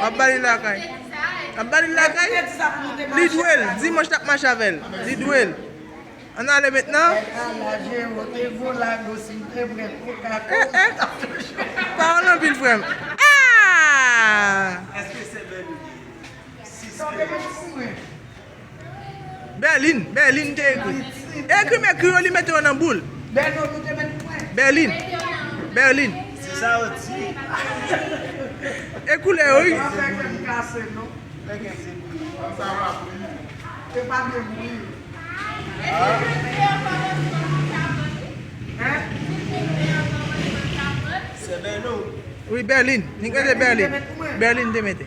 Wap bali lakay. Wap bali lakay. Li dwel. Dimanche tap mache avel. Li dwel. An ale met nan. Pawol anpil frem. Aah! Berlin Berlin te ekri Ekri m ekri yo li mete yo nan boul Berlin Berlin E koulè yo wi Berlin Berlin te mete.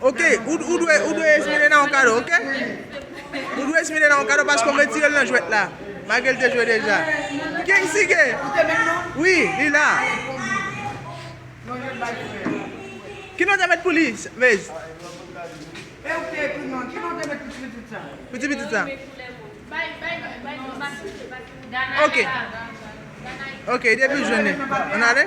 Ok ou dwe ou dwe Esmerena yon kado ok ou dwe Esmerena yon kado paske ou retirel nan jwèt la malgré li te jwe deja King Sige wi li la ki non te met pou li Mez pou ti pitit sa ok ok depiw jwenn li ann ale.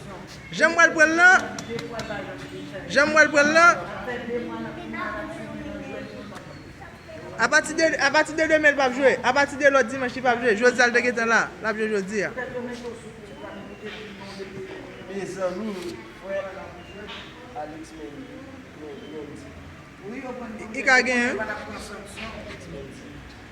Janm wèl pranl lan Janm wèl pranl lan Apati de Apati de demen li pap jwe Apati de lòt dimanch li pap jwe Jodi a li te gentan la Lap jwe jodi a Mezanmi frè Alix Mendy Mendy I ka gen